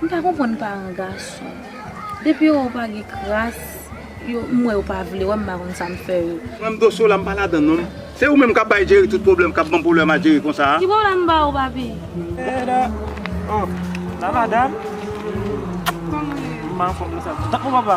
M pa konprann paran gason. Depi yo wè w pa gen kras, yo m wè yo pa vle wè m m pa konn sa m fè yo. Mwen m dosye w la m pa ladann non. Se ou menm kap bay Jerry tout pwoblèm kap banm pwoblèm a Jerry konsa a. Ki pwoblèm m ba ou papi? Eda oh la madam. Kòman ou ye? M pa anfòm nan sa. Tanpri papa.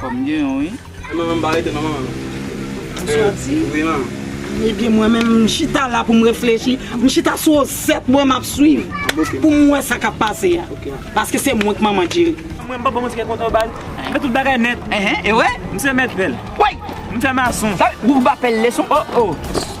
Kòm gen yon wi. Ou menm pa rete non manman. Ou soti? Wi manman. Ebyen mwen menm m chita la pou m reflechi. M chita sou resèt mwen m ap swiv pou m wè sa k ap pase a. Paske se mwen ki manman Djeri. Mwen m papa mwen se kèk kontan bal. M fè tout bagay nèt. Ehe e wè. M se mèt pèl. Woy! M fè mason. Sa vle di ou pa pèl leson? O o.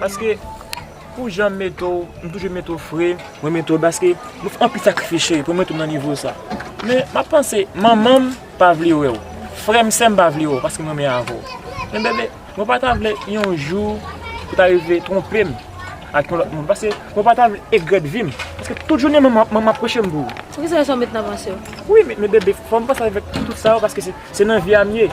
Paske pou janm mete w, m toujou mete w fre. Mwen mete w paske nou fè anpil sakrifis cheri pou mete w nan nivo sa. Men m ap panse manman m pa vle wè w, frè m, sè m pa vle wè w paske m renmen avè w. Men bebe, mwen pa ta vle yon jou ou ta rive twonpe m ak yon lòt moun. Paske mwen pa ta vle egrèt vi m. Paske tout jounen manman m ap preche m pou ou. Pou ki sa sa w mete nan panse w? Wi men bebe, fò m panse avèk tout sa yo paske se nan vi a m ye.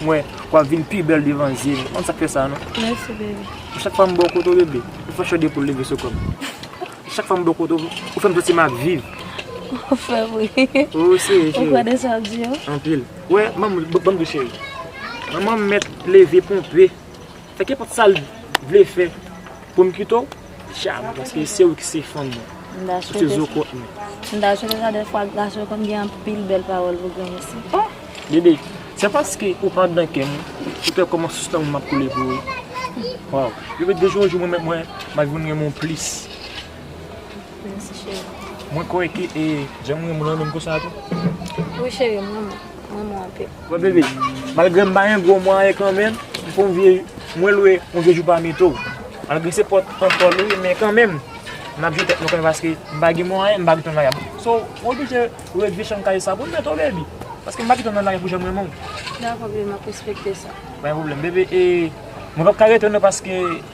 Mwen, wap vin pi bèl devan zye m. M konn sak fè sa non. Merci baby. Chak fwa m bo kote w bebe, ou fè chode poul leve sou kò m. Chak fwa m bo kote w, ou fè m santi map viv. Wap fè m ri. Ou serye cheri. Ou kwè nan sa wap di yo? Anpil. Wè, banm banm di w cheri. Manman m mèt leve ponpe. Fè kenpòt sa l vle fè pou m kite w. Jam paske se ou ki se fanm mwen. Ou se zo kòt mwen. M ta swete sa dèfwa gason yo konn gen anpil bèl pawòl pou granmesi. Oh! Bebe, se paske ou pa andan kè mwen ki fè kòman sous lanmou m ap koule pou ou. Waw! Bebe de jou an jou mwen menm mwen m ap vin renmen ou plis. Mèsi cheri. Mwen kwè ke e jan m renmen w lan menm konsa tou. Wi cheri, m renmen w. M renmen w anpil. Mwen bebe, malgre m pa yon gwo mwen anyen kanmenm, m fon vye, mwen lwe yon vye jou pa mito. Malgre se pot an pot li ye, men kanmenm, m ap jwe tèt mwen kanmenm paske m pa gen mwen anyen, m pa gen ton vagabon. So, ou oblije lwe vye chanm kay sa pou m mete w bebe. Paske m pa gen ton nan lari pou jan m renmen w. Dakò bebe, m ap respekte sa. Pa gen pwoblèm bebe, e mwen pap ka rete non paske.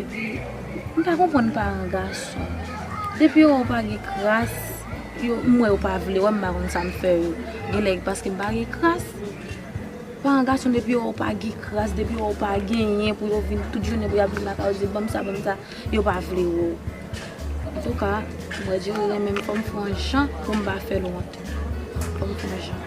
Epi m pa konprann paran gason. Depi yo wè w pa gen kras, yo m wè yo pa vle wè m pa konn sa m fè yo. Genlè paske m pa gen kras. Paran gason depi yo wè w pa gen kras, depi yo wè w pa genyen pou yo vin tout jounen pou y ap vin lakay ou di banm sa banm sa, yo pa vle wè w. Antouka, m wè Djeri renmen m fò m fè yon jan pou m pa fè l wont. Fò m fè yon jan.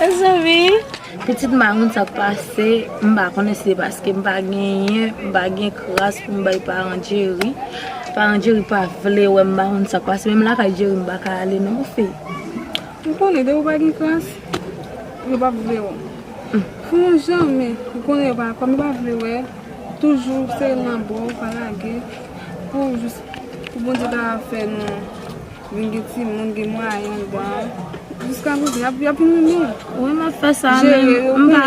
Mezanmi pitit mamoun sa pase m pa konnen si se paske m pa genyen m pa gen kras pou m bay paran Jerry paran Jerry pa vle wè m m pa konn sak pase menm lakay Jerry m paka ale non fi m konnen depi w pa gen kras yo pap vle wè w pou yon jan men m konnen yo pa kòm yo pa vle wè toujou se lanmò pa lage pou jis pou Bondye ta fè nou. Vin gen timoun gen mwayen andan. Jiska prezan yap yap renmen. Wi map fè sa men m pa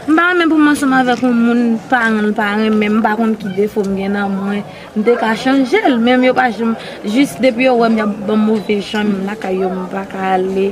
m pa renmen pou m ansanm avèk yon moun paran l pa renmen m pa konn ki defo m gen nan mwen m te ka chanje l men yo pa janm jis depi yo wè m yap banm move jan menm lakay yo m paka ale.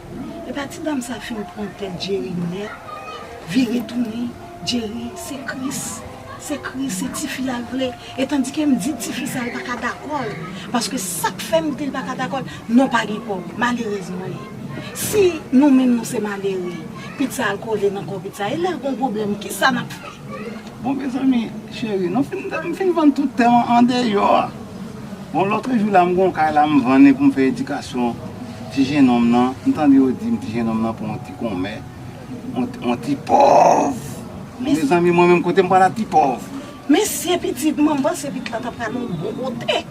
Epa ti dam sa fin pran tèt Jerry nèt vire tounen Jerry se kris se kris se tifi a l vle e tandike m di tifi sa l paka dakò l paske sak fè m di l paka dakò l non pa gen kòb malerèz mwen ye si nou menm nou se malere pizza al kole nan kò pizza e lè l gon pwoblèm kisa nap fè. Bon mezanmi cheri nou fin m fin vann tout tè mwen andeyò a bon lotre jou la m gon kay la m vann li pou m fè edikasyon ti jenòm nan m tande yo di m ti jenòm nan pou yon ti konmè yon ti pòv mezanmi mwen menm kote m pral ak ti pòv. Mesye pitit mwen m panse pitit la ta pral yon bon kote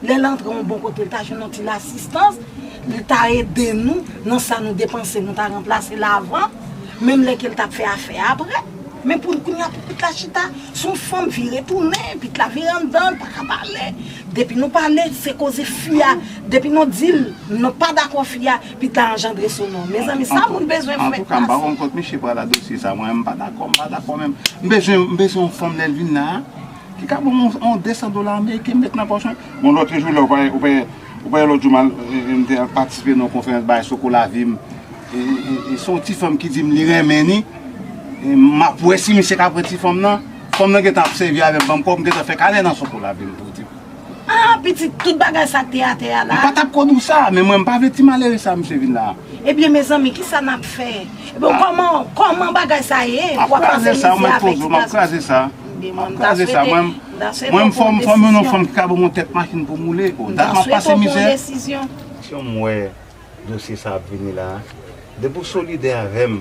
lè l antre yon bon kote l ta jwenn yon ti lasistans li ta ede nou nan sa nou depanse nou ta ranplase l avan menm lè ke l t ap fè afè aprè. Men pou kounye a pou pit la chita sou yon fanm vire tounen, pit la vire anndan l paka pale, depi nou pale se koze fi a, depi nou dil nou pa dakò fi a, pit la anjandre sou nou. Mezanmi sa moun bezwen pou mèt plas. Antouka m pa rann kont misye pral a dosye sa mwen m pa dakò m pa dakò menm. M bezwen m bezwen yon fanm lè l vin la ki ka ban m yon 200 dola ameriken m met nan pòch mwen. Bon lòt jou la ou pa wè ou pa wè. Ou pa wè lòt jou m te al patisipe nan yon konferans bagay soko lavi m e se yon ti fanm ki di m li renmen ni m ap wè si misye ka pran ti fanm nan fanm nan gentan ap sèvi avè m ban m kòb m gentan fè kanè nan soko lavi m pou di m a pitit tout bagay sa k te atè a la. M pa t ap konn ou sa men mwen m pa vle ti malere sa misye vin la. Ebyen mezanmi kisa nap fè. Ebon koman koman bagay sa ye wap pase mize avèk ti gason. Map kraze sa mwen poze w map kraze sa. Ebon mta swete mta swete w pran yon desizyon. Mwen fòm yon fanm ki ka ban mwen tèt machin pou m woule. Mta swete w pran yon desizyon. Sim wè dosye sa ap vini la. Depi w solidè avèm.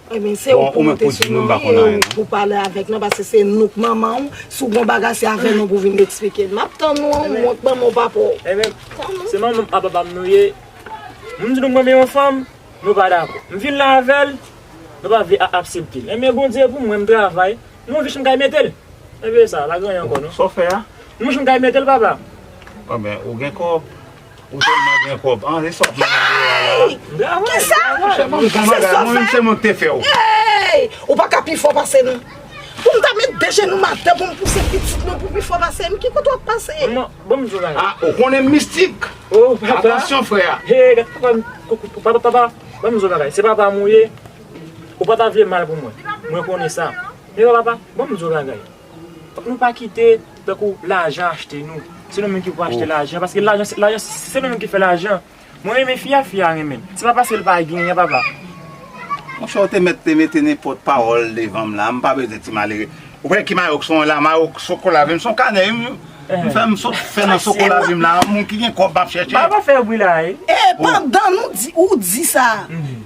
Ebyen se ou pou monte sou nou wi e ou pou pale avèk nou paske se nou k manman ou si w gon bagay se avè nou pou w vin eksplike l. M ap tann ou an ou wont banm yon papa w. Ebyen se manman m ak papa m nou ye m di nou m renmen yon fanm nou pa dakò m vin la avè l nou pa vle aksepte l ebyen Bondye pou mwen m travay m wè m kay mete l ebyen sa pa gen anyen ankò non. Sa w fè a? M wè m kay mete l papa. Ebyen ou gen kòb Ou telman gen kob. An e sa blan an ye a la. Bravo. Kisa? Monchè banm gon bagay. Mwen menm se mwen k te fè w. Hey! Ou pa ka pi fò pase m. Pou m ta met 2 jenou m atè pou m pouse pitit mwen pou pi fò pase m. Ki kote w ap pase? Manman, banm di w yon bagay. Ah ou konnen m mistik. Oh papa. Atansyon frè a. Hey gad papa m koukou. Papa, papa, banm di w yon bagay. Se papa m ou ye. Ou pa ta vle mal pou mwen. Mwen konnen sa. Men papa, banm di w yon bagay. Fòk nou pa kite tankou lajan achte nou se nou menm ki pou achte lajan paske lajan se nou menm ki fè lajan mwen renmen fi a fi a renmen m se pa paske l pa genyen papa. Monchè ou te mèt te mete nenpòt pawòl devanm la mpa bezwen ti malere ou pa wè ki mayo kson la mayo sokola vim son kanè wi m fèm sot fè nan sokola vim la moun ki gen kòb map chèche. Baba fè bri la e. Epandan ou di sa.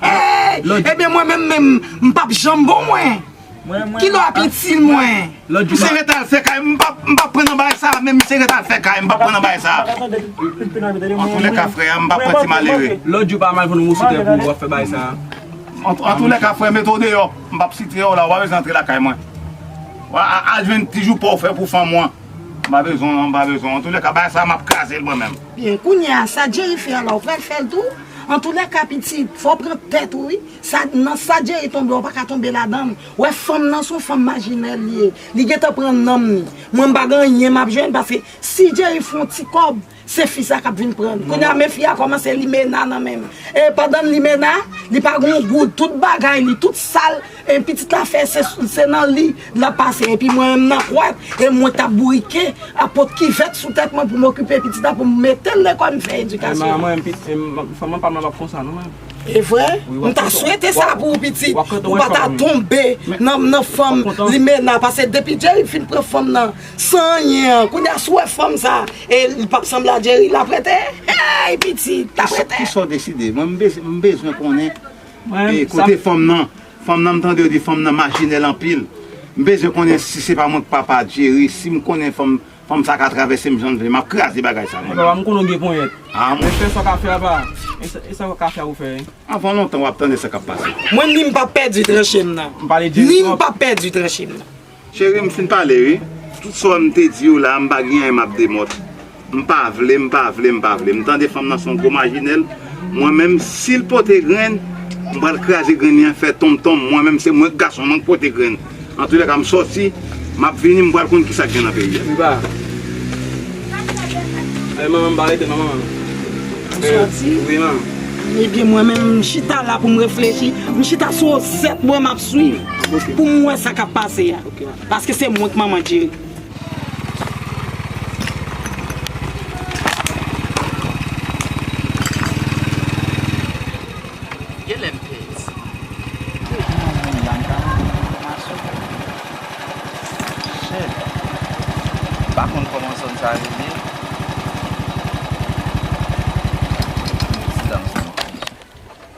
Hey! Ebyen mwen menm menm, m pap janm bon mwen. Ki lè w ap itil mwen? Misye ret al fè kay, m pap pran nan bagay sa a menm, misye ret al fè kay, m pap pran nan bagay sa a. Antoulèka frè a, m pap pran ti malere. Lòt jou pa mal pran yon moso tè pou w ap fè bagay sa a. Antoulèka frè, mete w deyò, m pap sitre w la, ou pa bezwen antre lakay mwen. Al jwenn ti jou pa w fè pou fanm ou an. M pa bezwen, m pa bezwen. Antoulèka bagay sa a m ap kraze l mwen menm. Byen kounyea sa Jerry fè a la ou pral fèl tou? Antoulèka pitit fòw pran tèt ou wi sa nan sa Jerry tonbe a ou paka tonbe ladann ou wè fanm nan son fanm majinèl li ye li gentan pran nanm ni mwen mpa gen anyen map jwenn paske si Jerry fon ti kòb se fi sa kap vin prann kounyea men fi a kòmanse limena nan menm e pandan limena li pa gen yon goud tout bagay li tout sal E pitit la fè se nan li lap pase epi mwen menm nan kwat e mwen tap bourike ap pot kivèt sou tèt mwen pou m okipe pitit la pou m metel lekòl m fè edikasyon an. Mwen menm fanm pa m lan pap konsa non mwen. E vre? M ta swete sa pou ou pitit ou pa ta tonbe nan fanm limena pase depi Jerry fin pran fanm nan san anyen an kounya si w wè fanm sa e li pap sanble a Jerry lap rete? Eyy pitit lap rete? Kisa w deside? Mwen m bezwen konnen. Ey kote fanm nan, fanm nan m tande yo di fanm nan machinèl anpil, m bezwen konnen si se pa mwen k papa Jerry, si m konnen fanm, fanm sa ka travèse m jan l vle, m ap kraze bagay sa mwen menm. Ey papa m konnen w gen ponyèt, men fè sa w ka fè apa, e sa w ka fè a ou fè e. Avan lontan w ap tande sa k ap pase. Mwen ni m p ap pèdi tranche m nan, ni m p ap pèdi tranche m nan. Cheri m fin pale wi, tout sa m te di yo la m pa gen anyen map demòt, m pa vle m pa vle m pa vle, m tande fanm nan son gwo majinèl, mwen menm sil pote grenn m pral kraze grenn li an fè tonm tonm, mwen menm se mwen k gason mwen k pote grenn, antoulèka m sòti map vini m pral konn kisa k gen nan peyi a. Riba Eeh manman m pa rete manman an Ou sòti? Wi manman. Ebyen mwen menm m chita la pou m reflechi, m chita sou osèt mwen map. Swiv pou m wè sa k ap pase a paske se mwen k manman Djeri.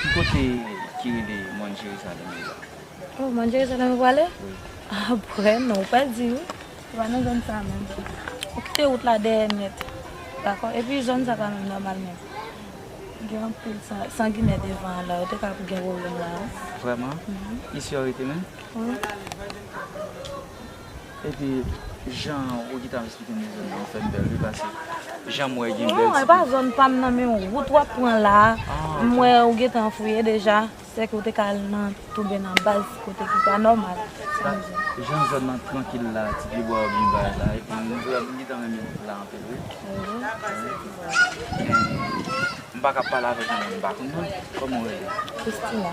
Ki kote ki rele Mòn Jerizalèm yo a? Oh, Mòn Jerizalèm yo prale? Wi. Ah bwè non, ou pral di wi. Se pa nan zòn sa menm. Ou kite wout la dèyè nèt. Dakò? Epi zòn sa pa menm nòmal menm. Gen anpil sanginè devan an la, yo te ka ap gen pwoblèm la a. Vrèman? Isi yo rete menm? Wi. Epi jan ou gentan ap esplike nou zòn nan ou fèm pèl wi pase janm wè gen bèl ti pye. Non e pa zòn pam nan men wout wap pran la m wè ou gentan fouye deja sèke ou te ka al nan touben nan baz kote ki pa nòmal sa m di. Jan zòn nan trankil la ti pye bwa yo byen bay la epi m gentan renmen la anpil wi. Mpa ka pale avèk yon moun m pa konn non kòman ou rele? Christina.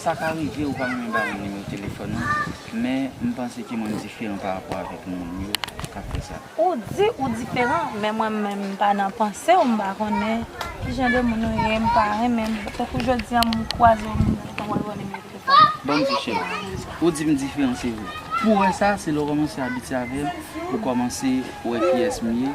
Sa ka rive ou pa renmen ba moun nimewo telefòn ou, men m panse ke mwen diferan pa rapò avèk moun yo k ap fè sa. Ou di ou diferan, men mwen menm m pa nan panse w, m pa konnen ki jan de moun ou ye, m pa renmen m, tankou jodi an m kwaze w m di w tankou yon nimewo telefòn m. Bon m di cheri, ou di m diferan se vre. Pou w wè sa, se lè w kòmanse abitye avè m, ou kòmanse wè kiyès m ye,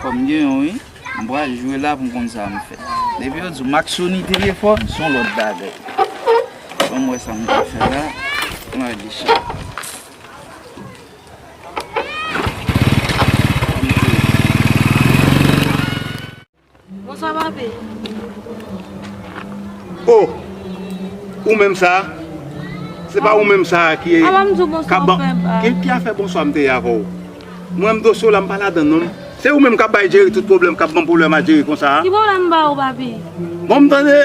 Fòk m gen yon wi. M pral jwe la pou m konn sa m fè. Depi yo di w mak Sony te gen fòm, s on lòt bagay. Ban m wè sa m ka fè la. M lage chat la. Bonswa papi. Oh ou menm sa a? Se pa ou menm sa a ki A la m di w bonswa ou fè bak. Ki ki afè bonswa m te ye avè w? Mwen m dosye w la m pa ladann non. Se ou menm k ap bay Djeri tout pwoblèm, k ap ban m pwoblèm a Djeri konsa a? Ki pwoblèm m ba ou papi? Bon m tande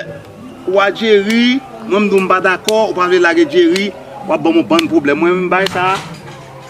ou a Djeri, mwen m di w m pa dakò, ou pa vle lage Djeri, w ap ban m yon bann pwoblèm. Mwen menm m bay sa a?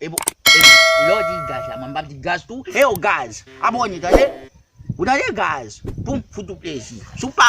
Ebon lè w di gaz la mwen m pap di gaz tou hew gaz abone tande ou tande gaz poum fout ou plezi si w pa